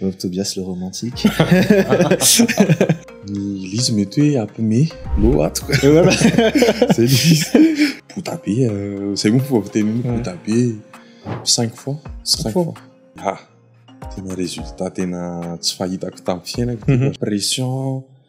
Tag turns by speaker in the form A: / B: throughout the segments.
A: Veuve Tobias le romantique.
B: Ny Liz mety hoe apme lo ato ka.
A: Zay Liz.
B: Bota be euh, zay moa fomba fiteny hoe bota be. Cinq fois. Cinq fois. Ah, tena résultat tena tsy fahitako tamin'ny fiainako. Mhm. Pression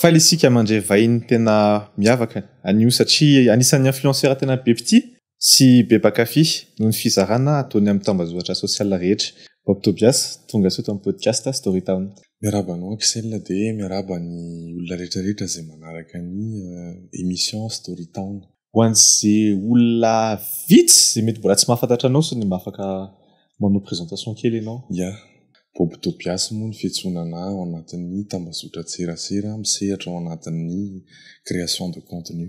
A: Faly isika mandre vahiny tena miavaka anio satria anisan'ny influenceurs tena be mpitia sy be mpankafy noho ny fizarana ataony amin'ny tambazotran social rehetra. Bob Tobias, tonga soa eto amin'ny podcast Story Town. Miarahaba anao Axel
B: dia miarahaba ny olona rehetra rehetra izay manaraka ny émission Story Town. ho an'izay
A: olona vitsy izay mety mbola tsy mahafantatra anao sy ny mba afaka manao présentation kely ianao. Ya. Bob
B: Tobias moa no fiantsoana anà ao anatin'ny tambazotran-tserasera misehatra ao anatin'ny création de contenu.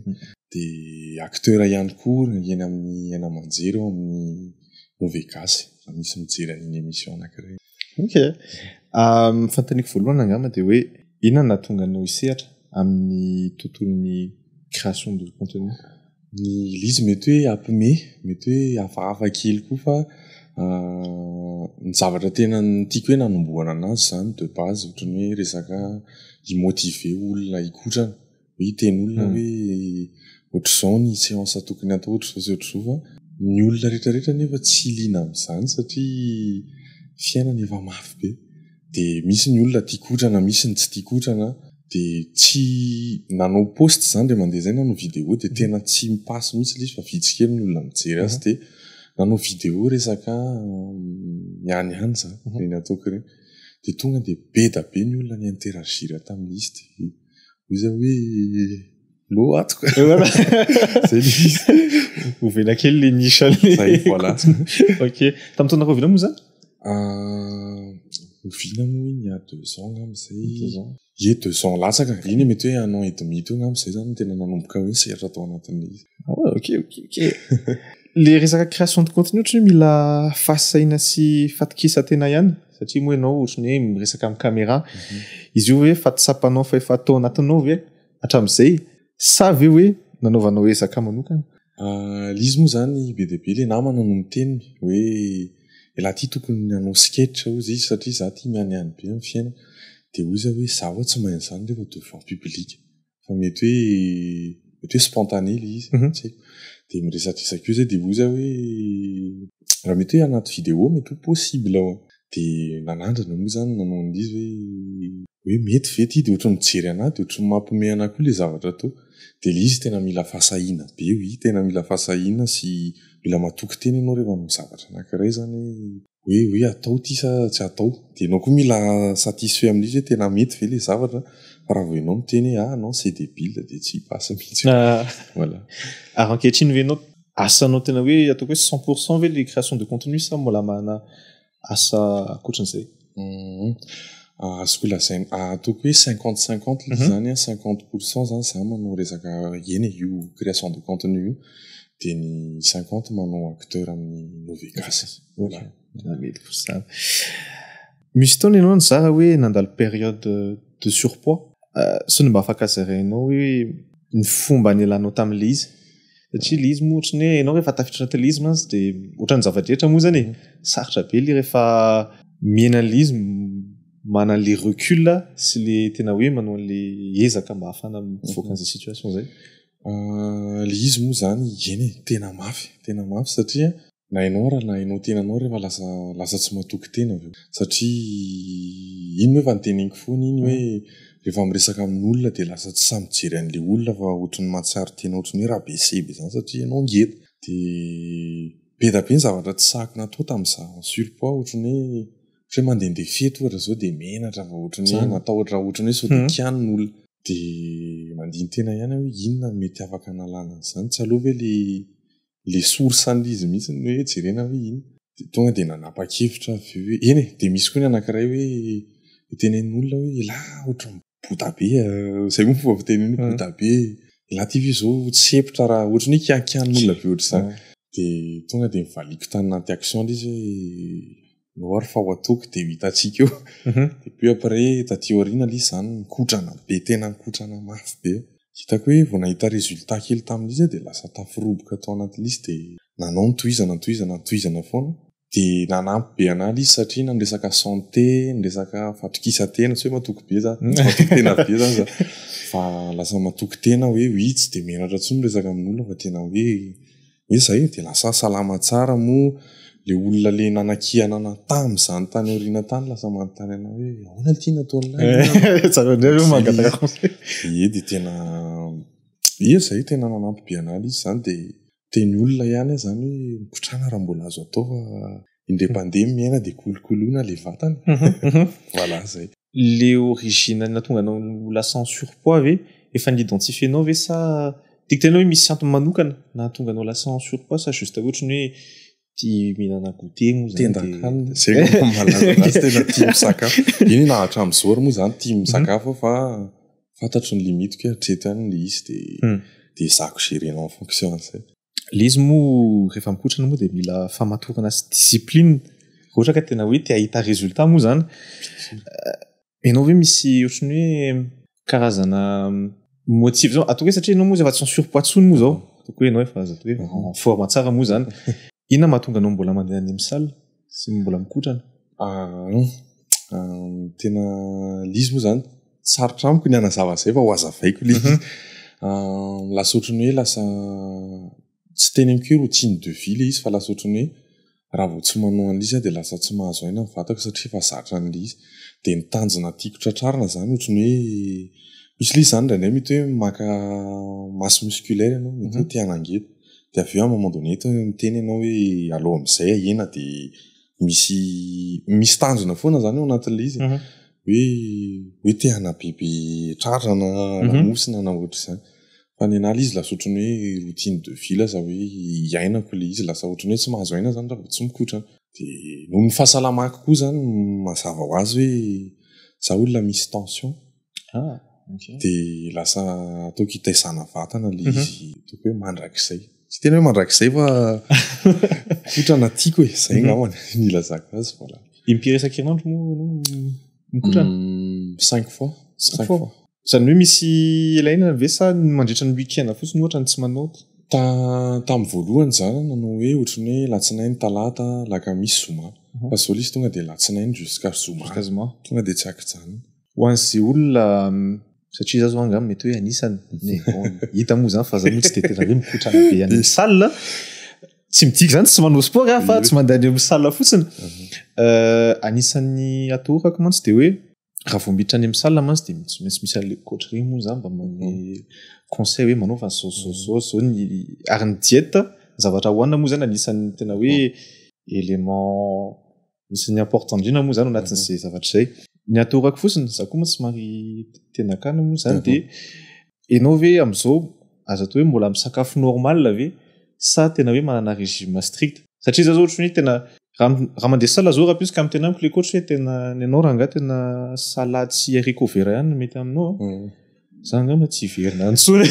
B: Dia acteur ihany koa eny amin'ny haino aman-jery ao amin'ny Movegasy raha misy mijery an'iny émission anankiray iny. Ok.
A: Ah, ny fantaniko voalohany angamba dia hoe inona nahatonga anao hisehatra amin'ny tontolon'ny création de contenu? Ny
B: Lizy mety hoe hampime, mety hoe hafahafa kely koa fa ny zavatra tena tiako hoe nanombohana anazy izany de base ohatran'ny hoe resaka hi-motiver olona hikotrana. Hiteny olona hoe ohatr'izao ny séance tokony hatao, ohatr'izao sy ohatr'izao fa ny olona rehetra rehetra nefa tsy liana amin'izany satria fiainana efa mafy be. Dia misy ny olona tia kotrana, misy ny tsy tia kotrana. Dia tsy nanao post izany dia mandeha izay nanao vidéo dia tena tsy mi-passe mihitsy ilay izy fa vitsy kely ny olona mijery azy dia nanao vidéo resaka ihany ihany izany, ireny ataoko ireny. Dia tonga dia be dia be ny olona ni-interagir tamin'izy dia. hoy za hoe lo ato ka zay le
A: izy
B: ho vela
A: kely le nisan'le zay voilà
B: ok
A: tamin'ny taona rahoviana moa zany ah,
B: oviana moa iny a deux ans ngam zay ye deux ans latsaka iny mety hoe un an et demi teo ngam zay zany tena nanomboka hoe sehatra tao anatin'le izy ah ouais ok ok ok
A: le resaka création de contenu ohatry mila fahasahiana sy fatokisa tena ihany satria moa ianao ohatry ny hoe miresaka amin'ny caméra izy io hoe fa tsapanao fa efa atao anatinao ve hatramin'izay sa ve hoe nanaovanao ezaka manokana ah, lizy moa
B: zany be dia be le namana no miteny hoe elah ty tokony hanao sketch hoy izy satria za ty mianiany be amin'ny fiainana dia hoy izy hoe za hoy tsy mahay an'izany rehefa devant public fa mety hoe mety hoe spontané ilay izy mhm. tsy dia miresadresaka io zay dia hoy za hoe raha mety hoe anaty vidéo mety ho possible ao dia nanandrana moa zany nanao an'izy hoe hoe mety ve ty dia ohatrany mijery anahy dia ohatrany mampome anahy koa ilay zavatra atao dia ilay izy tena mila fahasahiana be hoe tena mila fahasahiana sy mila matoky tena ianao rehefa manao zavatra anankiray zany hoe hoe hoe atao ity sa tsy atao dia ianao koa mila satisfait amin'izy hoe tena mety ve ilay zavatra fa raha vao ianao miteny hoe ah non c'est débile dia tsy basy mihitsy voilà ary ankehitriny
A: ve ianao asanao tena hoe ataoko hoe cent pour cent ve ilay création de contenu sa mbola manana asa ankoatran'izay mhm.
B: ah, azoko lazaina ah, ataoko hoe cinquante cinquante ilay mhm. izany cinquante pour cent izany za manao resaka eny io création de contenu io Dia ny cinquante manao acteur amin'ny Novegas.
A: Misy fotoana ianao nizara hoe nandalo période de surpoids. Sao dia mba afaka zarainao hoe ny fomba nialanao tamin'ilay izy? Satria ilay izy moa ohatran'ny hoe ianao rehefa tafiditra anatin'ilay izy mantsy dia ohatran'ny zava-drehetra moa izany e. Sarotra be ilay rehefa mihena an'ilay izy manana ilay recul sy ilay tena hoe manao an'ilay ezaka mba ahafahana mivoaka an'izay situation izay.
B: Ilay izy moa izany, eny e, tena mafy, tena mafy satria na ianao ary na ianao tenanao ary efa lasa lasa tsy matoky tena avy eo. Satria iny moa efa noteneniko foana iny hoe rehefa miresaka amin'olona dia lasa tsy sahy mijery an'ilay olona fa ohatran'ny mahatsiaro tena ohatran'ny hoe rabaisse be izany satria ianao ngeda. Dia be dia be ny zavatra tsy sahiko natao tamin'izaho sur poids ohatran'ny hoe Fa mandehandeha fety ohatra izao dia menatra vao ohatran'ny hoe matahotra ohatran'ny hoe sao dia kianina olona. Dia mandini-tena ihany aho hoe inona no mety afaka hanalana an'izany. Tsy aleo ve ilay ilay source an'izy mihitsy no hoe jerena hoe inona. Dia tonga dia nanapa-kevitra aho avy eo hoe eny e! Dia misy koa ny anankiray hoe teneno olona hoe elah ohatran'ny. bota be zay moa fomba fiteny hoe bota be la TV izao tsy hepitra raha ohatry ny hoe kiankian'olona be ohatr'izany dia tonga dia nivaliako tany anaty action ilay izy hoe no ary fa ho atoky dia ho hitantsika eo mhm. dia puis après taty aoriana ilay izy izany nikotrana be tena nikotrana mafy be hitako hoe vao nahita résultat kely tamin'ilay izy dia lasa taforoboka tao anatin'ilay izy dia nanao ny tohizana tohizana tohizana foana dia nanampy be an'ahy ilay izy satria na miresaka santé, miresaka fatokisan-tena, tsy hoe matoky be za, tsy matoky tena be za za fa lasa matoky tena aho hoe oi tsy dia menatra intsony miresaka amin'olona fa tena hoe hoe izay e, dia lasa salama tsara moa ilay olona le nanakihana anah tamin'izany tany aoriana tany lasa manontany anah hoe ahoana ity nataon'ilay tsara indray ve mangataka conseil, ie dia tena ie izay tena nanampy be an'ahy ilay izy izany dia Dia ny olona ihany aza zany hoe mikotrana raha mbola azo atao fa indray mpandeha ny miaina dia kolokoloina ilay vatana e. Voilà izay. Le origine
A: ny nahatonga anao ho lasa en surpoids ve? Efa ni-identifier-nao ve sa tiako tenenina hoe misy antony manokana nahatonga anao lasa en surpoids sa juste hoe ohatry ny hoe Ty mihinana goûter moa zany tenda kanina zay no
B: malaza azy tena tia misakafo iny na hatramin'izao ary moa zany tia misakafo fa fantatro ny limitiko hoe hatreto ihany le izy de hmm. de zako gérer en fonction an'izay le izy moa
A: rehefa mikotrana moa de mila famatorana sy discipline ohatra ka tena hoe te hahita résultat moa zany Ianao ve misy ohatran'ny hoe karazana motive zao ataoko hoe satria ianao moa zay efa tsy en surpoids intsony moa zao ataoko hoe ianao efa zato hoe mhm. en forme tsara moa zany inona mahatonga anao mbola mandeha any amin'ny salle sy mbola mikotrana ah, hmm.
B: ah, tena lizy moa zany sarotra amiko ny anazava zay fa ho azavaiko lizy mhm. ah, lasa ohatran'ny hoe lasa Tsy teny am-kiry ho chine de vie ilay izy fa lasa ohatran'ny hoe raha vao tsy manao an'ilay izy aho dia lasa tsy mahazo aina ny vatako satria efa zatra an'ilay izy. Dia ny tanjona tiako tratrarina izany ohatran'ny hoe misy ilay izy izany indraindray mety hoe maka masse musculaire ianao, mety hoe te hanangety. Dia avy eo à un moment donné toa miteny ianao hoe aleo amin'izay ahena dia misy misy tanjona foana izany ao anatin'ilay izy e. Hoe hoe te hanabebe tratrana, lamosina na ohatr'izany. Fa ny an'ahy ilay izy lasa ohatran'ny hoe routine de vie lasa hoe iainako ilay izy, lasa ohatran'ny hoe tsy mahazo aina aho izany raha vao tsy mikotra. Dia noho ny fahasalamako koa izany mazava ho azy hoe izaho olona misy tension, dia lasa ataoko hitaizana vatana ilay izy ataoko hoe mandrakizay. Tsy tena hoe mandrakizay fa kotrana tiako e, izay angamba no ilazako azy. Voilà. Impiry isan-kerinandro
A: moa ianao no mikotrana? Cinq
B: fois. Cinq fois. Izany
A: hoe misy ilaina ve sa ny mandritra ny week-end fotsiny ohatra no tsy manaoty? Tamin'ny
B: voalohany izaho nanao hoe ohatran'ny hoe alatsinainy, talata, alakamisy, zoma. Fa izao ilay izy tonga dia alatsinainy jusqu'à zoma. Jusqu'à zoma. Tonga dia tsy ankijanona. Ho an'izay
A: olona, satria izaho izao angamba mety hoe anisany, mais bon, hita moa izany fa izaho moa tsy dia tena hoe mikotrana be any amin'ny salle. Tsy midika izany tsy manao sport aho fa tsy mandeha any amin'ny salle fotsiny. Anisan'ny atoroko mantsy dia hoe raha vao miditra any amin'ny salle mantsy dia tsy maintsy misy an'ilay coach ireny moa izany mba manome conseil hoe manaova zao zao zao zao ny ary ny dieta ny zavatra hohanina moa izany anisan'ny tena hoe élément isan'ny important indrindra moa izany ao anatin'izay zavatra izay ny atao rako fotsiny za koa moa somary tena akana moa izany dia Ianao ve amin'izao aza atao hoe mbola misakafo normal ve sa tena hoe manana régime strict? Satria izaho izao ohatran'ny hoe tena raha mandeha salle izao rahampitso ka miteny amiko ilay coach hoe tena ny anao rangahy tena salade sy haricot vert ihany no mety aminao an! Izaho angamba tsy hiverina any intsony.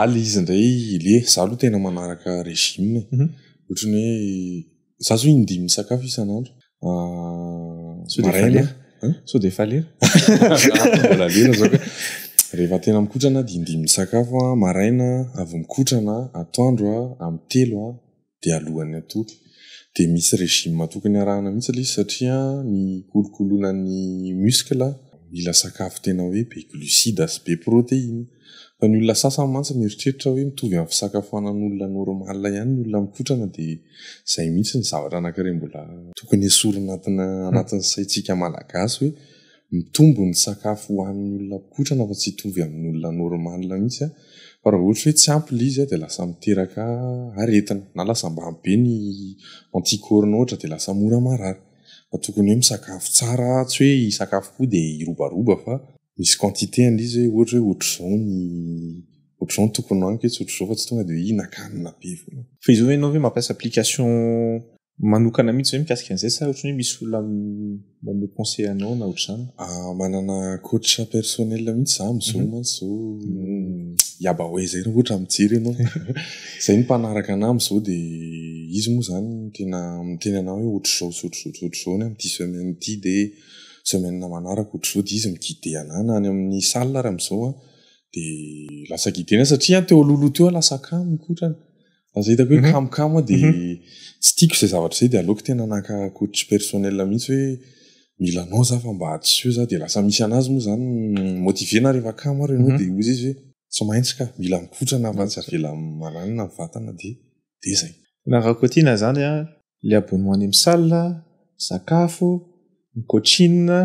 B: Aly izy indray le izaho aloha tena manaraka régime e! Ohatran'ny hoe. Za zao indimy misakafo isan'andro.
A: Sao dia efa
B: lera?
A: Sao dia efa lera? Mbola lera zao
B: ka. Rehefa tena mikotrana dia indimy misakafo a, maraina, avy mikotrana, atoandro a, amin'ny telo a, dia alohan'ny hatory. Dia misy régime tokony arahana mihitsy ilay izy satria ny hikolokoloana ny muscle mila sakafo tena hoe be glucides sy be protéines. Fa ny olona sasany mantsy mieritreritra hoe mitovy amin'ny fisakafoanan'olona normal ihany ny olona mikotrana dia izay mihitsy ny zavatra anankiray mbola tokony esorina anatin'ny saintsika malagasy hoe mitombo ny sakafo hohanin'ny olona mikotrana fa tsy hitovy amin'ny olona normal mihitsy fa raha ohatra hoe tsy ampy ilay izy dia lasa miteraka aretina na lasa ambany be ny anticorps-nao ohatra dia lasa mora marary fa tokony hoe misakafo tsara tsy hoe hisakafo koa dia hirobaroba fa misy quantité an'ilay izy hoe ohatra hoe ohatr'izao ny ohatr'izao ny tokony hohaniko etsy ohatr'izao fa tsy tonga dia hoe hinakanina be foana. Fa izy hoe ianao ve mampiasa
A: application manokana mihitsy ve mikasika an'izay sa ohatrany hoe misy olona manome conseil anao na ohatr'izany? Ah, manana
B: coach personnel mihitsy za amin'izao mantsy izao Yabawe izay raha ohatra mijery ianao. Izay no mpanaraka anà amin'izao dia izy moa izany tena miteny anà hoe ohatr'izao sy ohatr'izao sy ohatr'izao ny amin'ity semaine ity dia. semaine na manaraka ohatr'izao dia izy mi-guider anah na any amin'ny salle ary amin'izao an, dia lasa guider anah satria an teo alohaloha teo aho lasa kamo kotrana, lasa hitako hoe kamokamo aho dia tsy tiako izay zavatra izay dia aleoko tena naka coach personnel mihintsy hoe mila anao za fa mba hadisoa za dia lasa misy an'azy moa izany mi-motiver anah rehefa kamo ary ianao dia hoy izy hoe tsy maintsy ka, mila mikotrana fa tsy avela maranina ny vatana dia. dia izay. Tena rakotiana
A: izany an, ilay abonnement amy salle, ny sakafo, ny coachine,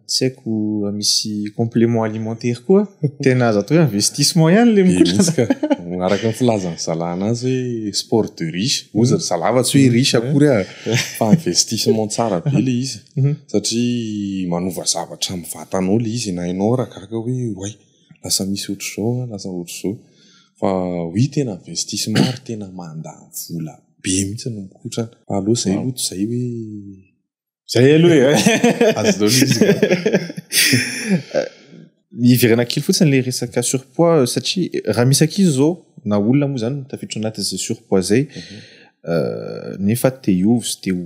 A: tsy haiko raha misy complement alimentaire koa, tena azo atao hoe investissement ihany ilay mikotrana. Araka ny
B: filazan'ny zalana azy hoe sport de riche, hoy ry zalahy fa tsy hoe riche akory an, fa investissement tsara be ilay izy satria manova zavatra amin'ny vatanao ilay izy, na ianao ary gaga hoe oay. lasa misy ohatr'izao an, lasa ohatr'izao fa oui tena investissement ary tena manda vola be mihitsy ny mikotrana fa aleo izay aloha tsy izay hoe izay
A: aloha e azo daholo
B: izy
A: hiverena kely fotsiny ilay resaka surpoids euh, satria eh, raha misy ankizy izao na olona moa izany tafiditra anatin'izay surpoids izay mhm. euh, nefa te hiova sy te ho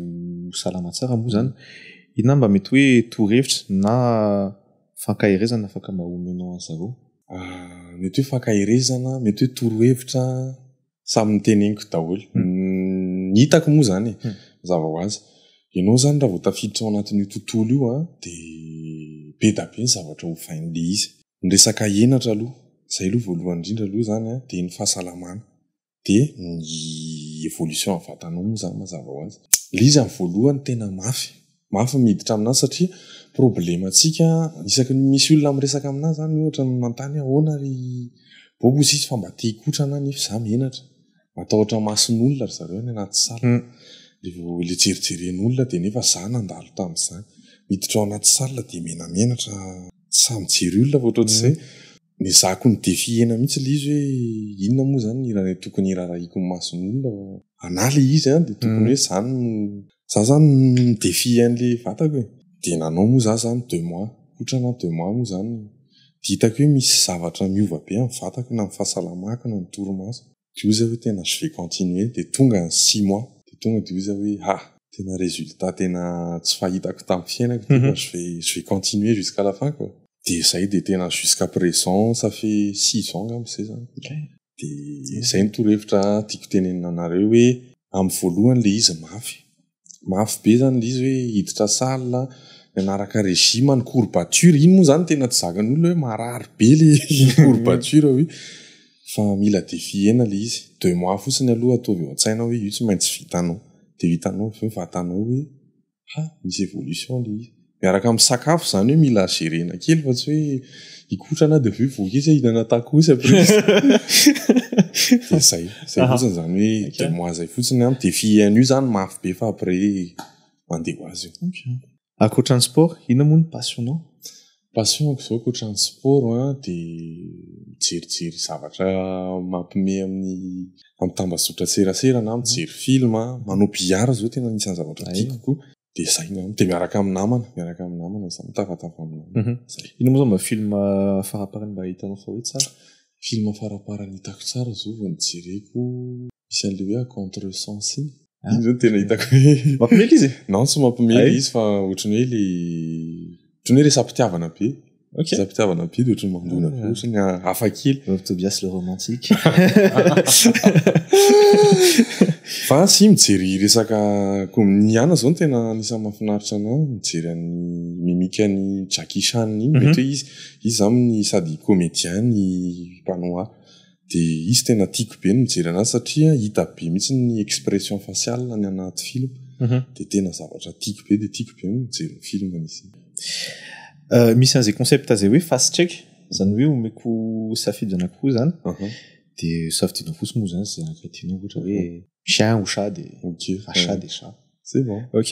A: salama tsara moa izany inona mba mety hoe torohevitra na Fankaherezana afaka mba omenao an'i zareo? Mety
B: hoe fankaherezana, mety hoe torohevitra, samy noteneniko daholo. Ny hitako moa izany e, mazava ho azy. Ianao izany raha vao tafiditra ao anatin'io tontolo io dia be dia be ny zavatra hovain'ilay izy. Ny resaka henatra aloha, izay aloha voalohany indrindra aloha izany dia ny fahasalamana. dia ny evolution ny vatanao moa izany mazava ho azy ilay izy amin'ny voalohany tena mafy mafy ny miditra aminà satria problème antsika isaky ny misy olona miresaka aminà izany ohatra ny manontany hoe ahoana ry bobo hoy izy fa mba te hikotrana aho nefa izaho menatra matahotra mason'olona ry zareo any anaty salle dia vao ilay jerijeren'olona dia nefa izaho nandalo tamin'izany miditra ao anaty salle dia menamenatra tsy sahy mijery olona fa ohatran'izay Nezahako ny defie-na mihitsy ilay izy hoe inona moa izany ny hira izay tokony hiraharahiako ny mason'olona fa anà ilay izy an, dia tokony hoe izany no, izaho izany mi-defie an'ilay vatako e, dia nanao moa izaho izany deux mois, aotra na deux mois moa izany, dia hitako hoe misy zavatra miova be amin'ny vatako na ny fahasalamako na ny torimasoko. Dia hoy za hoe tena je vais continuer, dia tonga ny six mois, dia tonga dia hoy za hoe ha, tena résultat tena tsy fahitako tamin'ny fiainako ity fa je vais, je vais continuer jusqu'à la fin quoi. Dia zay dia tena jusqu'à présent ça fait six ans angamba zay zany. Dia izay no torohevitra tiako tenenina anareo hoe amin'ny voalohany ilay izy mafy, mafy be zany ilay izy hoe hiditra salle mianaraka régime ny courbature iny moa zany tena tsy zakany olona hoe marary be le courbature hoe fa mila defihena ilay izy deux mois fotsiny aloha ataovy eo an-tsaina hoe io tsy maintsy vitanao dia hitanao avy eo vatanao hoe ha misy évolution ilay izy miaraka amin'ny sakafo izany hoe mila gerena kely fa tsy hoe hikotrana dia avy eo voky izy hihinana tacos après izy. Dia izay, izay Aha. fotsiny izany hoe Ok. deux mois izay fotsiny an. Dia fihihano io izany mafy be fa après mandeha ho azy io. Ankoatra ny sport,
A: inona moa ny passion-nao? Passion-ko
B: izao ankoatra ny sport an dia mijerijery zavatra mampime amin'ny amin'ny tambazotran-tserasera na mijery film an. Manao billard izao tena anisan'ny zavatra Hay. tiako kokoa. dia izay ny amiko dia miaraka amin'ny namana miaraka amin'ny namana izany mitafatava amin'ny namana mhm. izay ino moa izany mba film
A: faraparany mba hitanao fa hoe tsara film
B: faraparany hitako tsara zao vao nijereko misy an'le hoe a contre sens iny ah. iny zany tena hitako hoe mampimely izy non tsy mampimely
A: izy fa
B: ohatrany hoe le ohatrany
A: hoe
B: resampitiavana be Okay.
A: Za mpitiavana biby
B: ohatry ny mandona ah. fotsiny ah, hafa kely. Veuve Tobias le romantique. Fa tsy mijery resaka kominiana zao no tena anisany mahafinaritra anao mijery an'ny mimika ny Jackie Chan iny mhm. mety hoe izy izy zany sady comédien ny panoa. Dia izy tena tiako be ny mijery anazy satria hita be mihitsy ny expression faciale any anaty film. Dia tena zavatra tiako be dia tiako be ny mijery ny film izy iny.
A: Misy an'izay concept izay hoe face check, izany hoe omeko safidy anankiroa izany dia safidinao fotsiny moa izany izay araka tianao ohatra hoe chien ou chat dia chat dia chat. C'est bon. Ok.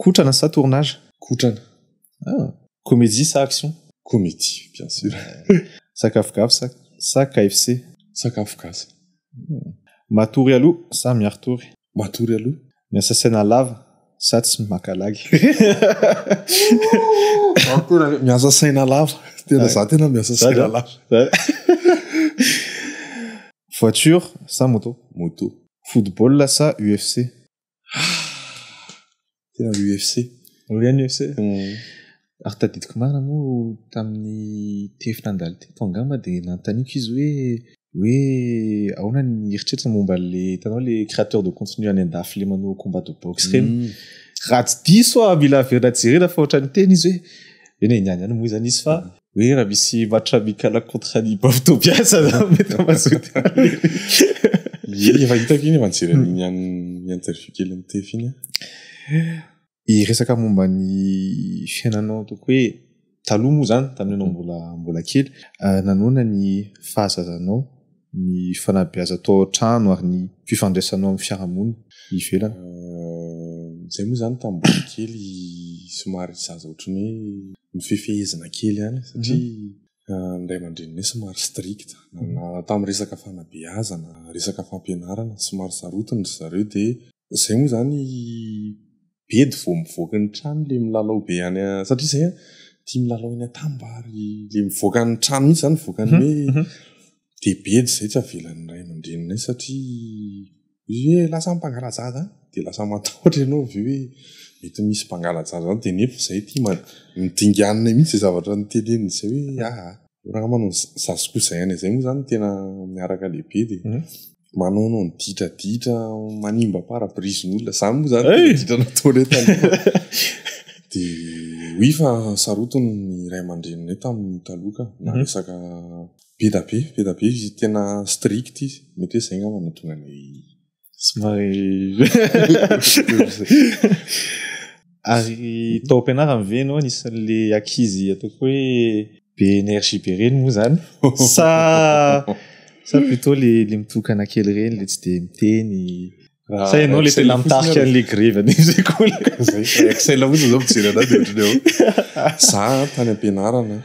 A: Kotrana sa tournage? Kotrana.
B: Ah.
A: Comédie sa action? Comédie, bien
B: sûr. Sakafo gasy
A: sa, sa KFC? Sakafo gasy.
B: Hmm.
A: Matory aloha sa miari-tory? Matory aloha.
B: Miasa saina lava
A: sa tsy maka lagy?
B: miasa saina lava. Tena za tena miasa saina lava.
A: Voiture sa moto? Moto.
B: Football sa
A: UFC?
B: Tena UFC. Oria ny UFC.
A: Ary tadidiko marina moa tamin'ny tefy nandalo teto angamba dia nanontaniako izy hoe hoe ahoana ny eritreritra momba le tanao le créateur de contenu any andafy le manao combat de boxe ireny. Mm. Raha tsy diso aho mila averina jerena fa ohatran'ny teny izy hoe eny e, niany ihany moa izany izy fa mm. hoe raha misy matra mikala contre ny baotobiasa za mety mazoty
B: efa hitako iny efa nijery an'iny any ny interview kely ny tef iny
A: resaka momba ny fiainanao toko hoe taloha moa zany tamin'ny anao mbola mbola kely ah, nanona ny fahazazanao ny fanabeazana atao ao an-trano ary ny fifandraisanao amin'ny fiarahamonina ivelany?
B: Izay moa izany tamin'ny mbola kely somary zaza ohatran'ny hoe nofefehezina kely ihany satria ny ray aman-dreninay somary strict. Na tamin'ny resaka fanabeazana, resaka fampianarana somary sarotiny ry zareo dia izay moa izany be de vao mivoaka ny trano le milalao be any satria zay tia milalao any atambary le mivoaka ny trano mihitsy zany mivoaka ny hoe mhm, mhm. de be de zay tsy avelan'ny ray aman-dreninay satria hoe lasa mpangalajaza dia lasa matahotra ianao avy hoe mety misy mpangalajaza any dia nefa izay ty midinganina mihitsy zay zavatra ny teleny izay hoe aa ah, ah. raha manao zazikoa izay any izay moa zany tena miaraka lehibe dia mhm. Manaonao ny ditraditra manimba pare-brisen'olona. Izany moa izany tena ditra nataony hoe taloha. Dia oui fa sarotiny ny ray aman-dreninay tamin'ny taloha ka. Na resaka be dia be, be dia be izy. Tena strict izy. Mety hoe izay angamba no nahatonga anay. Somary.
A: Ary tao am-pianarana ve ianao anisan'le ankizy ataoko hoe be énergie be reny moa zany? Sa sa plutôt le le mitokana kely reny le tsy de miteny? Ah, sa ianao le tena mitarika an'le grevy any sekoly? Excel
B: fotsiny zao mijery anao de ohatrany hoe za tany am-pianarana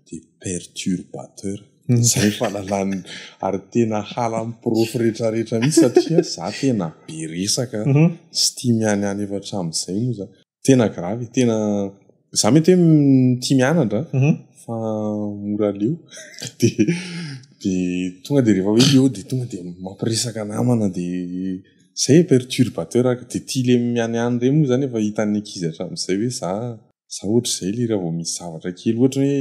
B: de perturbateur. Izay fahalalany ary tena halan'ny porofo rehetra rehetra mihitsy satria za tena be resaka tsy tia mianiany efa hatramin'izay moa za tena gravy e tena za mety hoe tia mianatra fa mora leo de de tonga de rehefa hoe leo de tonga de mampiresaka namana de zay perturbateur ary de tia le mianiany ireny moa zany efa hitan'ny ankizy hatramin'izay hoe za za ohatr'izay le raha vao misy zavatra kely ohatra hoe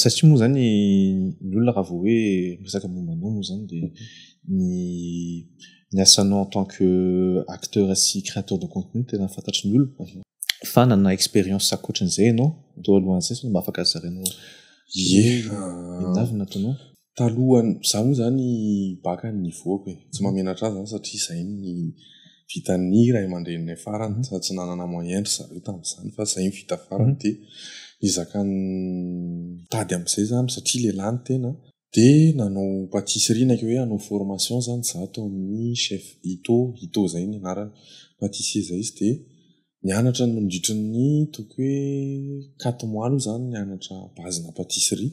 A: satria moa zany ny olona raha vao hoe miresaka momba anao moa zany dia ny ny asanao en tant que acteur sy créateur de contenu tena fantatry ny olona mhm. fa nanana expérience ankoatran'izay ianao atao alohan'izay sao mba afaka zarainao ye inona avy nataonao talohan'ny, izaho
B: moa izany baka no nivoako e, tsy mahamenatra ahy izany satria izay no vitan'ny ray aman-dreninay farany sady tsy nanana moyen ry zareo tamin'izany fa izay no vita farany dia ezaka mitady amin'izay izaho amin'izay satria lehilahy ny tena an, dia nanao patisserie na koa hoe hanao formation izany izaho tao amin'ny chef Ito, Ito izay no anarany, patissier izay izy dia Nianatra nandritry ny toko hoe quatre mois aloha zany nianatra base na patisserie,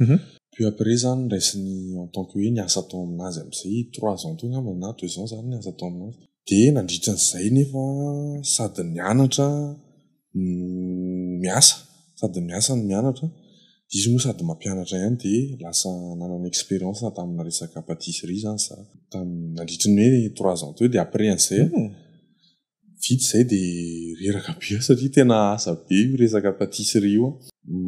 B: puis après zany niraisiny en tant que hoe niasa tao aminazy amizay trois ans teo angamba na deux ans za niasa tao aminazy, de nandritry ny zay nefa sady nianatra no miasa sady miasa no mianatra, izy moa sady mampianatra ihany de lasa nanana experience tamina resaka patisserie zany za, tam- nandritry ny hoe trois ans teo de après anizay vita izay dia reraka be aho satria tena asa be io resaka patisserie io an!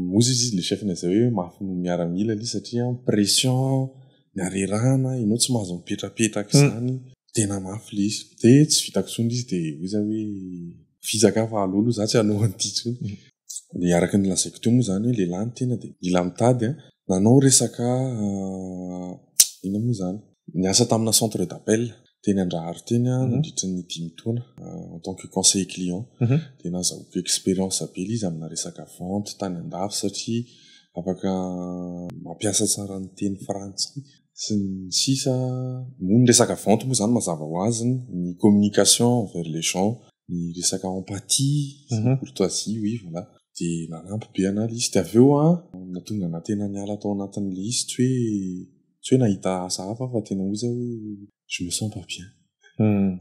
B: Moa izy izy ilay chef izay hoe mafy noho ny miaramila ilay izy satria pression, ny harerahana, ianao tsy mahazo mipetrapetraka izany, tena mafy ilay izy. Dia tsy vitako intsony ilay izy dia hoy izaho hoe vitsaka aho fa aleo aloha izaho tsy hanao an'ity intsony. Dia araka ny lazaiko teo moa izany hoe lehilahy ny tena dia mila mitady an! Nanao resaka inona moa izany? Niasa tamina centre d'appel teny Andraharo teny aho nandritra ny dimy taona en tant que conseiller client. Dia nahazahoako expérience be ilay izy amina resaka vente tany an-dafy satria afaka mampiasa tsara ny teny frantsay sy ny sisa. Moa ny resaka vente moa izany mazava ho azy ny communication envers les gens, ny resaka empathie sy ny courtoisie, oui voilà. Dia nanampy be an'ahy ilay izy. Dia avy eo an, nahatonga an'ahy tena niala tao anatin'ilay izy tsy hoe. Tsy hoe nahita asa hafa aho fa tena ozy aho hoe je me sens pas bien.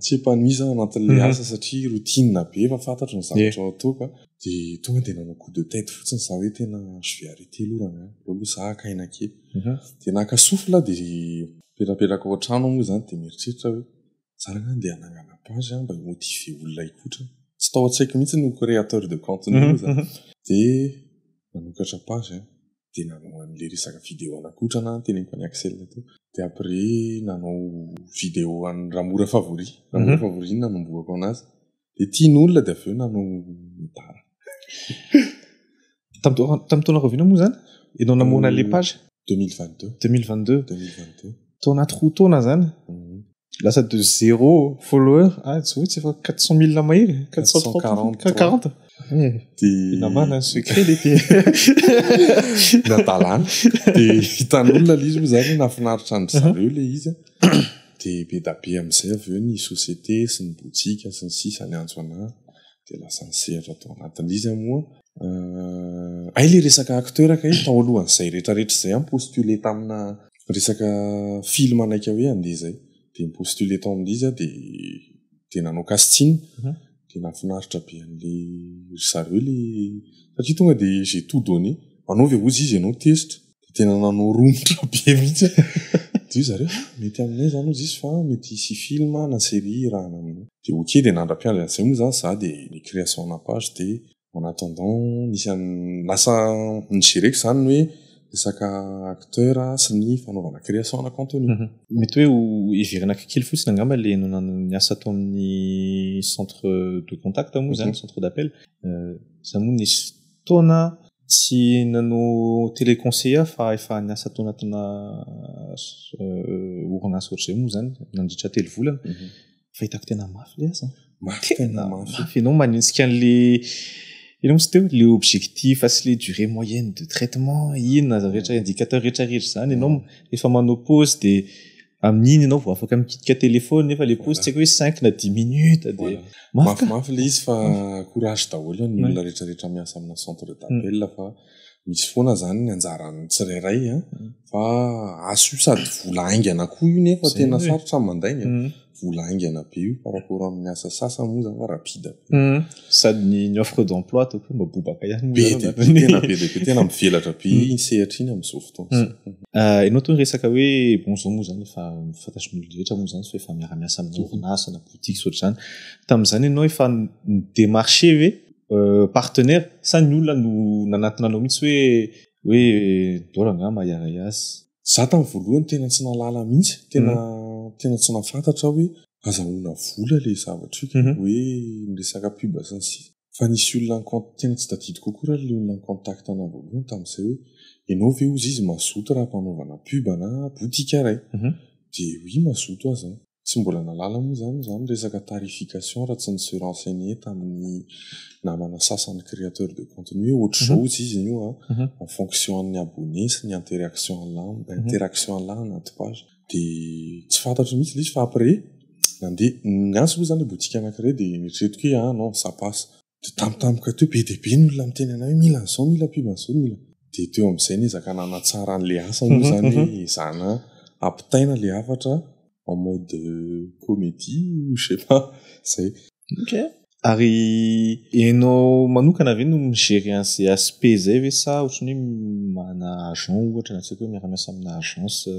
B: Tsy épanoui za anatin'ilay asa satria routine be efa fantatro ny zavatra ao an-toako a. Dia tonga dia nanao coup de tête fotsiny za hoe tena je vais arrêter aloha rangahy, aleo aloha za haka aina kely. Dia naka souffle aho dia nipetrapetraka ao an-trano aho moa izany dia mieritreritra aho hoe za rangahy andeha hanangana page aho mba hi-motiver olona hikotrana. Tsy tao an-tsaiko mihitsy ny ho créateur de contenu moa izany. Dia nanokatra page aho. dia nanao an'ilay resaka vidéo nakotrana aho noteneniko an'i Axel teo dia après nanao vidéo an'i Ramora Favori Ramora mhm. Favori no nanombohako anazy dia tian'olona dia avy eo nanao mitara
A: tamin'ny taona rahoviana moa zany ianao namoana le page 2022 2022 2022
B: tao anaty roa taona
A: zany mhm. Lasa de zéro follower. Ah, tsy voa tsy efa 400 mille mahery. 440. 40. Eh,
B: dia namana ny
A: secret le ty.
B: Nadalana. Dia hitan'olona le izy moa zany nafinaritra andry zareo le izy. Dia be da be amin'izay avy eo ny société sy ny botika sy ny sisa ny antso an'ahy. Dia lasa nisehatra tao anatin'ilay izy aho moa. Euh, hay le resaka acteur kay tao alohan'izay rehetra rehetra izay aho mi-postuler tamina Resaka film naika hoe andeha zay dia ny postule tao amin'ilay izy aho dia dia nanao casting dia nahafinaritra be an'ilay ry zareo ilay satria tonga dia j'ai tout donné manao ve ozy izy ianao test dia tena nanao romotra be mihitsy aho dia hoy zareo ah mety aminay izany ozy izy fa mety hisy film na série hirahana aminao dia ok dia nandra-piandry an'izay moa izany za dia ny création-na page dia en attendant nisy an lasa nigereko zany ny hoe resaka acteur sy ny fanaovana création na contenu. Mety hoe ho
A: heverina kely fotsiny angamba ilay ny asa atao amin'ny centre de contact moa izany, centre d'appel. Izaho moa nisy fotoana tsy nanao téléconseiller aho fa efa niasa tao anatina orinasa ohatr'izay moa izany nandritra telo volana fahitako tena mafy le asa mafy tena mafy ianao manitsika an'le ianao misy teo le objectif sy le durée moyenne de traitement inona zany rehetra indicateur rehetra rehetra zany ianao efa manao pause de amin'iny ianao vao afaka mikitika téléphone nefa le pause tsy haiko hoe cinq na dix minutes de mafy mafy le
B: izy fa courage daholo ny olona rehetra rehetra miasa amina centre d'appel fa misy foana zany ny anjaran'ny tsirairay a, fa asa io sady vola haingana koa io nefa tena sarotra mandainga, vola haingana be io par rapport amin'ny asa sasany moa zany fa rapide be, sady
A: ny ny offre d'emploi ataoko hoe mba bobaka ihany moa zany, be dia be tena be dia be
B: tena mivelatra be iny sehatra iny amin'izao fotoana izao. Ianao tony
A: resaka hoe bon zao moa zany efa fantatrin'olona rehetra moa zany fa efa miara-miasa amin'ny orinasa na boutique sy ohatr'izany, tamin'izany ianao efa ni-demarcher ve? partenaire sa ny olona no nanatona anao mihitsy hoe hoe dora nga mahiaray azy za tamin'ny voalohany
B: tena tsy nalala mihitsy tena mhm. tena tsy nafantatra hoe azahoana vola le zavatra io mhm. hoe miresaka pub sy ny sisa fa nisy olona ny compte tena tsy tadidiko akory ary le olona ny contact anao voalohany tamin'izay hoe ianao ve ozy izy mazoto raha mpanaovana pub na boutique iray mhm. de oui mazoto aza Tsy mbola nahalala moa izany izaho ny resaka tarification raha tsy nisy renseigner tamin'ny namana sasany créateur de contenu hoe ohatr'izao hozy izy anio an, en fonction an'ny abonné sy ny interaction anlany, interaction anlany anaty page. Dia tsy fantatro mihitsy ilay izy fa après nandeha, niantso moa izany ilay boutique anankiray dia neritreretiko hoe ah non ça passe. Dia tampotampoka teo, be dia be ny olona miteny anay hoe mila an'izao, mila mpiova an'izao, mila. Dia teo amin'izay niezaka nanatsara an'ilay asa moa izany hoe ezahina ampitaina ilay hafatra en mode comédie ou je sais pas, izay. Ok.
A: Ary ianao manokana ve no mi-gérer an'izay aspect izay ve sa ohatran'ny hoe manana agent ohatra na tsy haiko hoe miara-miasa amina agence?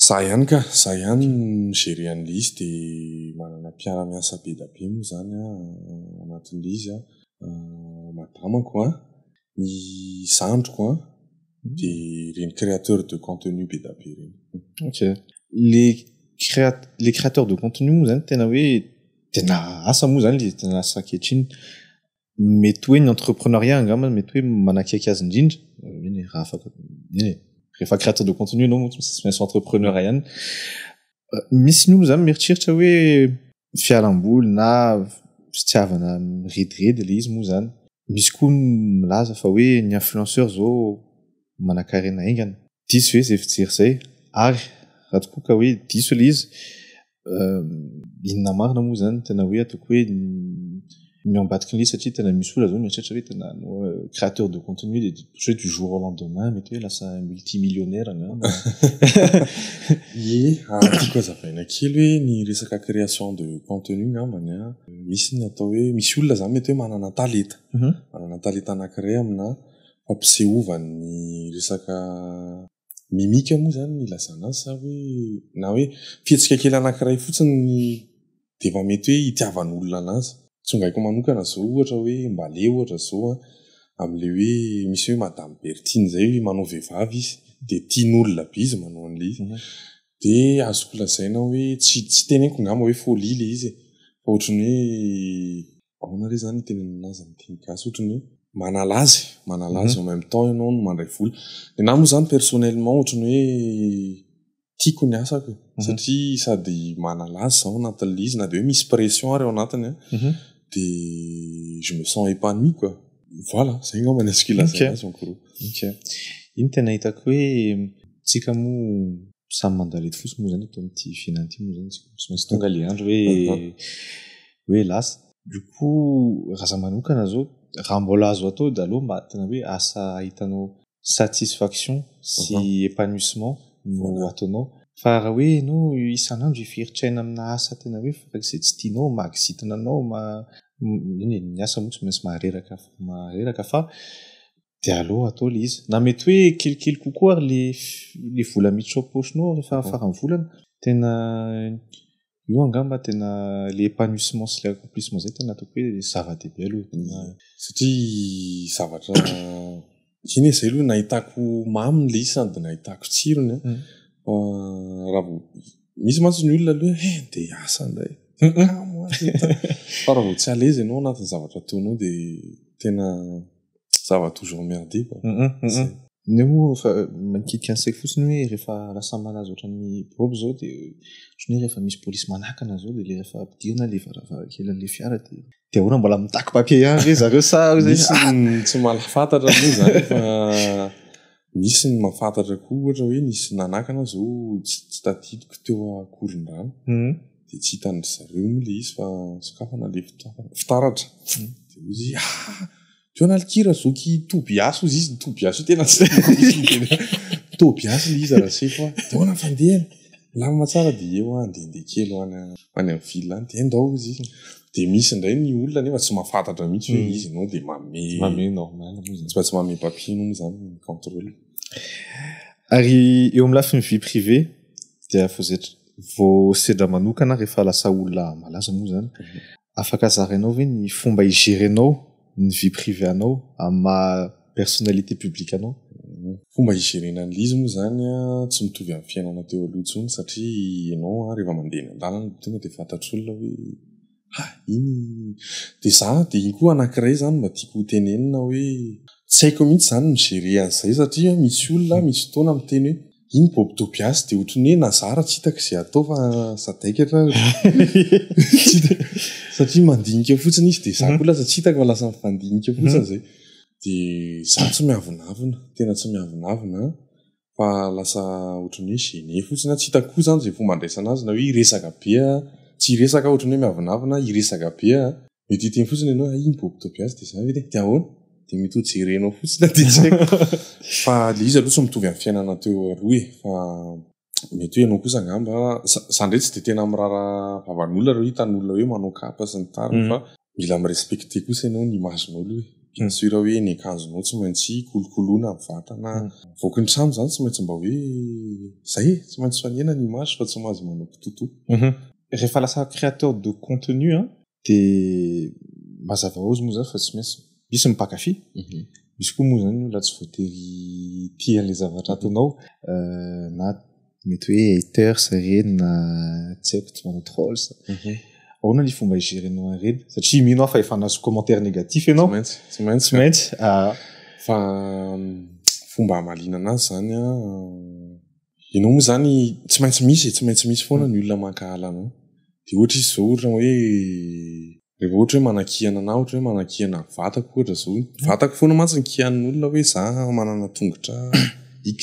B: Za ihany ka, za ihany mi-gerer an'ilay izy dia manana mpiara-miasa be dia be moa izany aho ao anatin'ilay izy an, madamako an, ny zandriko an, dia ireny créateur de contenu be dia be ireny. Ok.
A: Ilay créat- ilay créateur de contenu moa izany tena hoe tena asa moa izany ilay izy, tena asa ankehitriny. mety hoe ny entrepreneuriat angamba mety hoe manakaiky azy indrindra eny raha afaka eny rehefa créateur de contenu ianao moa tsy maintsy entrepreneur ihany misy ny olona zany mieritreritra hoe fialamboly na fitiavana mirediredy le izy moa zany misy koa milaza fa hoe ny influenceur zao manakarena aingana diso ve zay fijery zay ary raha tokoa ka hoe diso le izy inona marina moa zany tena hoe ataoko hoe ny ambadiky ny satria tena misy olona zao mieritreritra hoe tena créateur de contenu de je du jour au lendemain mety hoe lasa multimillionnaire na ye
B: azoko azavaina kely hoe ny resaka création de contenu ngambany a misy ny atao hoe misy olona zany mety hoe manana talenta mhm. manana talenta anankiray amina fampisehovany resaka mimika moa izany ny ilazana azy sa hoe na hoe fihetsika kely anankiray fotsiny dia efa mety hoe hitiavan'olona an'azy. Tsongaiko manokana izao ohatra hoe Mbale ohatra izao an, amin'ilay hoe misy hoe Madame Berthine izay hoe manao vehivavy izy dia tian'olona be izy manao an'ilay izy. Dia azoko lazaina hoe tsy tsy teneniko angamba hoe folie ilay izy e, fa ohatran'ny hoe ahoana re zany hitenenana azy amin'ny teny gasy ohatry ny hoe manala azy manala azy en même temps ianao no mandray vola ny nahy moa zany personnellement ohatry ny hoe tiako ny asako e. mhm. satria sady manala azy zaho anatin'ilay izy na dia hoe misy pression ary ao anatiny a mhm. dia je me sens épanoui quoi voilà zay angamba ny azoko ilazana azy en gros ok
A: iny tena hitako hoe tsika moa samy mandalety fosy moa zany eto amin'ity fiainana ity moa zany tsy maintsy tonga le andro hoe hoe lasa. Io koa raha za manokana zao raha mbola azo atao de aleo mba tena hoe asa ahitanao satisfaction sy épanouissement no ataonao fa raha hoe enao isan'andro hifiritraina amina asa tena hoe farak'izay tsy tianao mahakizitina anao eny e ny asa moa tsy maintsy mahareraka mahareraka fa de aleo atao le izy na mety hoe kelikely kokoa ary le le vola miditra ao poche-nao rehefa faran'ny volana tena Io angamba tena ilay épanouissement sy ilay accomplissement izay tena ataoko hoe zava-dehibe aloha tena. Satria
B: zavatra iny izay aloha nahitako mamy ilay izy sady nahitako tsirony an. Raha vao misy mantsy ny olona aloha hoe eh andeha hiasa indray. Kamo an! Fa raha vao tsy à l'aise ianao anatin'ny zavatra ataonao dia tena. ça va toujours emmerder quoi ne
A: mo fa mankity an sec fotsiny hoe rehefa lasa malaza ohatran'ny bob zao de ohatran'ny rehefa misy police manakana zao de le rehefa ampidirina le varavarankely an'le fiara de de ahoana mbola mitaky papier ihany ve zareo sa misy tsy
B: malafantatra aloha zany fa misy ny mafantatra koa ohatra hoe nisy nanakana zao tsy tadidiko teo akorondrano dia tsy hitan dry zareo moa ilay izy fa sokafana ilay fitaratra dia hoy izy ah teo na likira zoky tobiasy hoy izy ny tobiasy io tena tsy tena tobiasy ilay izy raha sefo ah dia hoana fandehany milamina tsara dia eo ah ndehandeha kely ho any ho any amin'ny ville any dia ndao izy dia misy indray ny olona nefa tsy mahafantatra mihitsy hoe izy ianao dia mame mame normal moa izany
A: fa tsy mame
B: papier moa izany ny contrôle
A: ary eo amin'ny lafiny vie privée dia voazetry vao sedra manokana rehefa lasa olona malaza moa zany afaka zarainao ve ny fomba higerenao ny vie privée anao amin'ny maha personnalité publique anao? Fomba
B: higerena an'ilay izy moa zany an, tsy mitovy amin'ny fiainana teo aloha intsony satria ianao an rehefa mandeha eny an-dalana dia tonga dia fantatr'olona hoe Ha! iny dia za dia iny koa anankiray zany mba tiako ho tenenina hoe tsy haiko mihitsy zany ny mi-gerer an'izay satria misy olona misy fotoana miteny hoe iny Bob Tobias dia ohatran'ny hoe nazara tsy hitako izay atao fa sadaika tra satria mandinika fotsiny izy dia za koa lasa tsy hitako fa lasa mifandinika fotsiny izay dia za tsy miavonavona tena tsy miavonavona an! fa lasa ohatran'ny hoe gêné fotsiny aho, tsy hitako koa izany izay fomba handraisana azy na hoe hiresaka be aho, tsy hiresaka aho ohatran'ny hoe miavonavona, hiresaka be aho, mety hiteny fotsiny ianao hoe hay iny bobo toby azy dia izany ve dia dia ahoana? dia mety ho jerenao fotsiny aho dia tsy haiko fa ilay izy aloha tsy mitovy amin'ny fiainana teo aloha e! fa mety hoe ianao kosa angamba, za indray tsy dia tena miraharaha vavan'olona raha hoe hitan'ny olona hoe manao kapa sy ny tariny fa Mila mi-respecter kosa ianao ny image-n'olo e. Bien sûr hoe ny akanjonao tsy maintsy kolokoloina ny vatana. Mivoaka ny trano izany tsy maintsy mba hoe izay e, tsy maintsy fanehina ny image fa tsy mahazo manao kitoto. Rehefa
A: lasa créateur de contenu an, dia mazava hoazy moa izany fa tsy maintsy misy ny mpankafy, misy koa moa izany olona tsy voatery tia an'ilay zavatra ataonao na mety hoe haters ireny na tsy haiko tsy manao trolls mhm. ahoana ny fomba igerenao ireny satria mino aho fa efa nazo commentaire négatif ianao maintsy tsy maintsy tsy maintsy
B: ah. fa fomba amalina anazy zany a ianao moa zany tsy maintsy misy e, tsy maintsy misy foana ny olona mankahala anao de ohatra izy zao ohatra hoe rehefa ohatra hoe manakihana na ohatra hoe manakihana vatako ohatra zao vatako foana mantsy ny kihanin'olona hoe za manana tongotra x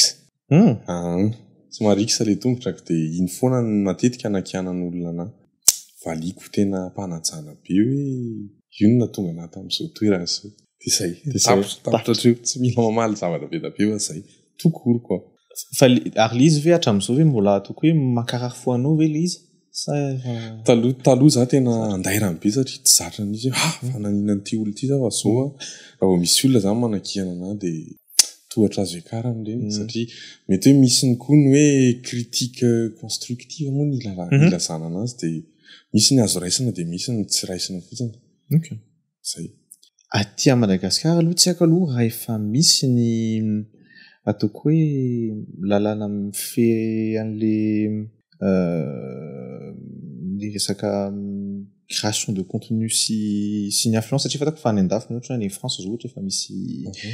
B: Hum aahn! Tsy mariksa le tongotrako de iny foana no matetika anakianan olona anah. Valiako tena ampanajana be hoe io no nahatonga anah tamin'izao toerana izao. De zay. De zay. Tapitra hatreo. Tsy mila mamaly zavatra be da be fa zay. Tokoriko an! Fa ary
A: le izy ve hatramin'izao ve mbola ataoko hoe mankarary fo anao ve le izy? Sa efa. Taloha
B: taloha za tena andairany be satria tsy zatra mihitsy hoe ha! fa nanina an'ity olona ity za fa zao an! raha vao misy olona zany manakiana anah de. tohatra azo iakaran'ny ireny satria mety hoe misy ny koa ny hoe critique constructive moa ny ilazana anazy dia misy ny azo raisina dia misy ny tsy raisina fotsiny. Ok. Zay. Aty
A: à Madagascar aloha tsy haiko aloha raha efa misy ny ataoko hoe lalàna mifehy an'le ny resaka création de contenu sy sy ny influence satria fatako fa any andafy mihatra any France zao ohatra efa misy mhm.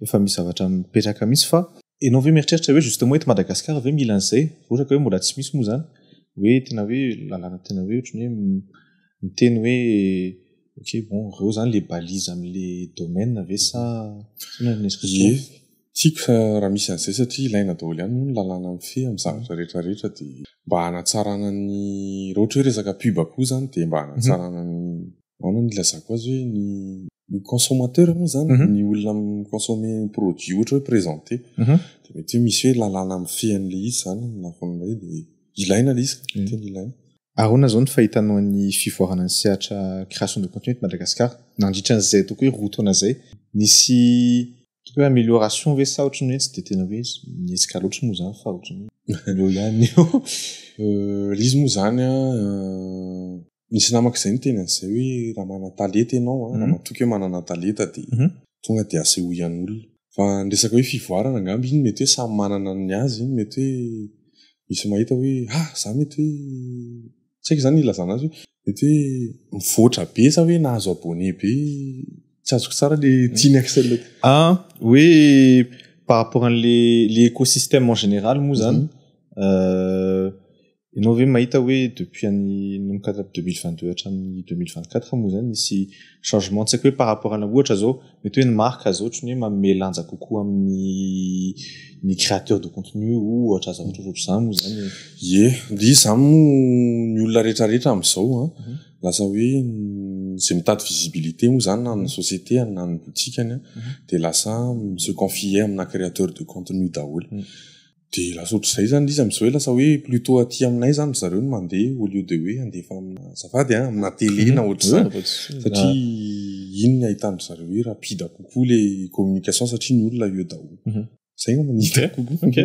A: efa misy zavatra mipetraka mihitsy fa ianao ve mieritreritra hoe justement eto Madagascar ve mila an'izay ohatra ka hoe mbola tsy misy moa zany hoe tena hoe lalàna tena hoe ohatrany hoe miteny hoe ok bon reo zany le balise amle domaine ve sa sa
B: Tiako sa raha misy an'izay satria ilaina daholo ihany moa ny lalàna mifehy amin'ny zavatra rehetra rehetra dia mba hanatsarana ny raha ohatra hoe resaka pub koa izany dia mba hanatsarana ny ahoana no ilazako azy hoe ny ny consommateur moa izany ny olona mi-consommer ny produit ohatra hoe presenter dia mety hoe misy hoe lalàna mifehy an'ilay izy izany ny lafiny iray dia ilaina ilay izy ka, tena ilaina. Ahoana izao ny
A: fahitanao ny fivoarana ny sehatra création de contenu eto Madagasikara nandritra an'izay ataoko hoe roa taona izay? Nisy Hoe amélioration ve sa ohatran'ny hoe tsy dia tena hoe mihetsika loatra moa izany fa ohatran'ny hoe eo ihany eo.
B: Ilay izy moa izany an, nisy namako izay niteny an'izay hoe raha manan-talenta ianao an, raha matoky hoe manana talenta dia tonga dia asehoan'olona. Fa ny resaka hoe fivoarana angamba iny mety hoe samy manana ny azy, mety hoe misy mahita hoe ah! za mety hoe tsy haiko izany ilazana azy hoe mety hoe mivoatra be sa hoe nahazo abonné be tsy azoko tsara le tiany axel a hoe
A: par rapport an'le le écosystème en général moa zany mhm. euh, ianao ve mahita hoe depuis an'ny nomkatra 2022 hatramin'ny 2024 moa zany nisy changement tsy haiko hoe par rapport ana ohatra zao mety hoe ny marque aza ohatry ny hoe manome lanja kokoa amin'ny ny créateur de contenu ohatra zavatra ohatra ohatr'izany moa zany e. Ie, dia izany
B: moa ny olona rehetra rehetra amin'izao an, lasa hoe izay mitady visibilité moa izany na amin'ny société-ny na amin'ny botikany an, dia lasa mi se confier amina créateur de contenu daholo. Dia lasa ohatr'izay izany ilay izy amin'izao hoe lasa hoe plutôt aty aminay izany ry zareo no mandeha au lieu de hoe handefa aminà, azafady an, aminà télé na ohatr'izany. Satria iny ny ahitan-dry zareo hoe rapide kokoa ilay communication satria ny olona eo daholo. Izay angamba no hitako kokoa.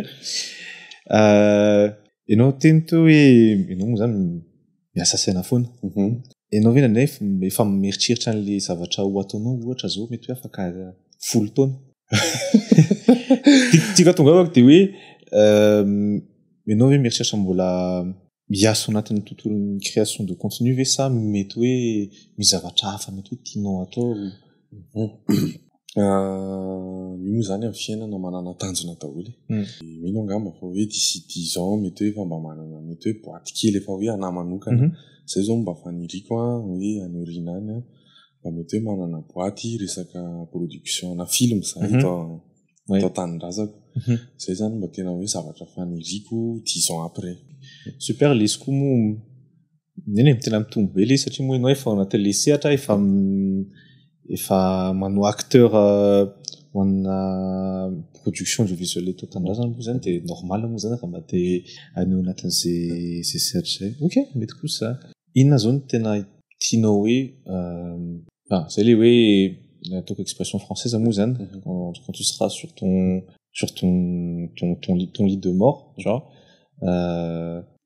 A: Ianao teny teo hoe ianao moa izany miasa saina foana. Mhm. Ianao ve indraindray f- efa mieritreritra an'ilay zavatra ho ataonao ohatra izao mety hoe afaka folo taona? Ti- Tiako hatonga avako dia hoe ehm, ianao ve mieritreritra mbola hiasa ao anatin'ny tontolon'ny création de contenu ve sa mety hoe misy zavatra hafa mety hoe tianao atao?
B: Io moa zany amin'ny fiainana manana tanjona daholo e. Mino angamba fa hoe d'ici dix ans mety hoe efa mba manana mety hoe boaty kely efa hoe anà manokana. Zay zao mba faniriko hoe any aoriana any mba mety hoe manana boaty resaka production-na film za eto eto an-tanindrazako. Zay zany mba tena hoe zavatra faniriko dix ans après. Super, lesy
A: koa moa Eny e, tena mitombo be ilay izy satria moa ianao efa ao anatin'ilay sehatra, efa efa manao acteur ho anà production audiovisuelle eto an-tanindrazana moa izany dia normal moa izany raha mba te haneho anatin'izay izay sehatra izay. Ok, mety kosa izany. Inona izao no tena tianao hoe ah, izay ilay hoe ataoko expression française moa izany quand tu seras sur ton sur ton ton lit de mort genre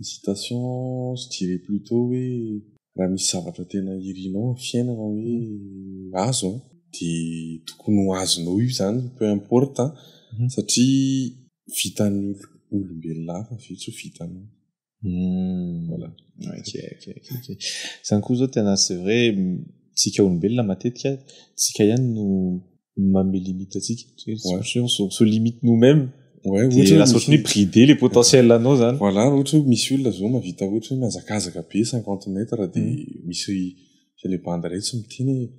B: Hésitations, je dirais plutôt hoe raha misy zavatra tena irinao amin'ny fiainana hoe azo an, dia tokony ho azonao io izany peu importe an, satria vitan'ny olombelona hafa ve tsy ho vitanao? Voilà.
A: Ok, ok, ok, ok. Izany koa izao tena c'est vrai, tsika olombelona matetika tsika ihany no ny manome limite atsika se limite nous même de lasa ohatry ny bridé le potentiel anao zany voilà ohatry hoe misy olona
B: zao mavita ohatry hoe mihazakazaka be cinquante mètres de mm. misy le bande ray tsy miteny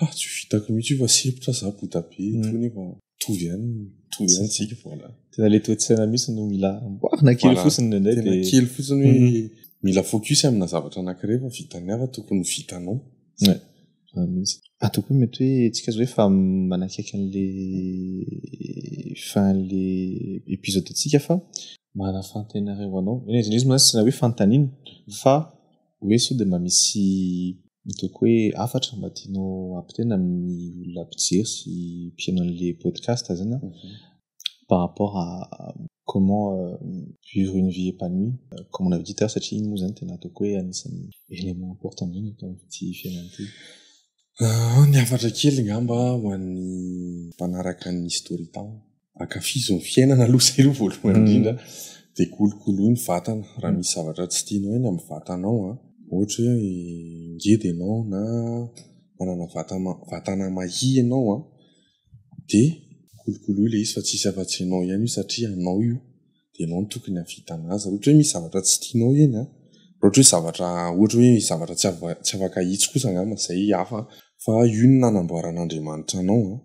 B: ah tsy vitako mihitsy io fa sepotra za bota be mm. tro nefa mitovy ihany mitovy ihany tsika voilà tena le toetsaina
A: mihitsy no mila amboarina kely fotsiny nendray de kely fotsiny hoe mm.
B: mila focus amina zavatra anankiray fa vitany hafa tokony vitanao Zany mihitsy. Atao
A: koa mety hoe tsika zao efa manakaiky an'le fin an'le episode antsika fa manafantay anareo anao eny izy izy moa tsy na hoe fanontaniana fa hoe sao de mba misy ataoko hoe hafatra mba tianao ampitaina amin'ny olona mpijery sy mpihaino an'le podcast zany an. par rapport à comment euh, vivre une vie épanouie euh, comme on avait dit tard satria iny moa zany tena ataoko hoe anisan'ny élément important indrindra eto amin'ity fiainana ity ah,
B: ny hafatra kely ngamba ho an'ny mpanaraka ny story tam akafizo ny fiainana aloha zay aloha voalohany mm. indrindra de kolokoloy ny vatana raha misy zavatra tsy tianao eny amin'ny vatanao a ah. ohatra hoe ngedy ianao na manana vatana mahia ianao a ah. dia kolokolo ilay izy fa tsy hisy afa-tsy ianao ihany io satria anao io dia ianao no tokony hahavitana azy. Raha ohatra hoe misy zavatra tsy tianao eny an, raha ohatra hoe zavatra ohatra hoe misy zavatra tsy ava- tsy afaka hahitsy kosa angamba izay hafa an, fa io no nanamboaran'Andriamanitra anao an,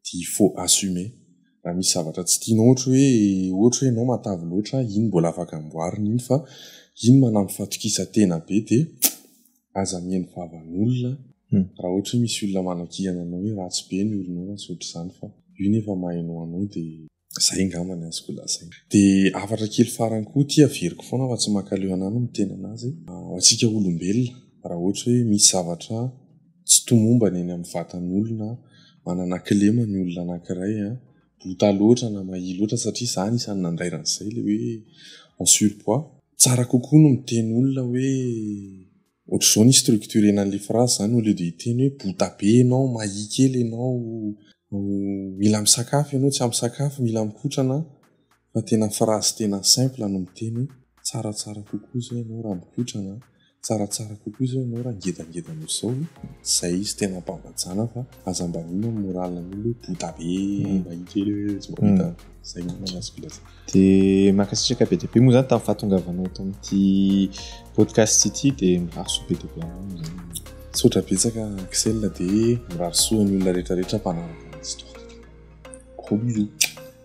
B: dia il faut assumer. Raha misy zavatra tsy tianao ohatra hoe ohatra hoe ianao matavy loatra, iny mbola afaka amboarina iny fa iny manampy fatokisantena be dia. aza mihaino vavan'olona raha ohatra hoe misy olona manakihana anao hoe ratsy be ny olonao na tsy ohatr'izany fa io nefa mahaino anao de zay angamba ny azoko lazaina de hafatra kely farany koa ity averiko foana fa tsy mankaleo anah no miteny anazy ho antsika olombelona raha ohatra hoe misy zavatra tsy tomombana eny amin'ny vatan'olona manana kilema ny olona anankiray a bota loatra na mahia loatra satria izaho anisan'ny nandaira an'izay ilay hoe en surpoids. Tsara kokoa ny miteny olona hoe ohatr'izao ny hi-structurer-na an'ilay phrase izany au lieu de hiteny hoe bota be ianao, mahia kely ianao, mila misakafo ianao, tsy ampy sakafo, mila mikotrana. fa tena phrase tena simple no miteny hoe tsaratsara kokoa izao ianao raha mikotra na tsaratsara kokoa izao ianao raha ngedangeda noho izao e! izay izy tena ampambajana fa aza mba mino amin'ny morale an'olona hoe bouddha be mba iny kely hoe tsy mba hita izay no tena azoko lazaina. Dia
A: mankasitraka be dia be moa izany tamin'ny fahatongavanao eto amin'ity podcast ity dia mirary soa be dia be anao moa izany. Misaotra betsaka
B: Axel dia mirary soa ny olona rehetra rehetra mpanaraka an'i Histoire. Gros bisous.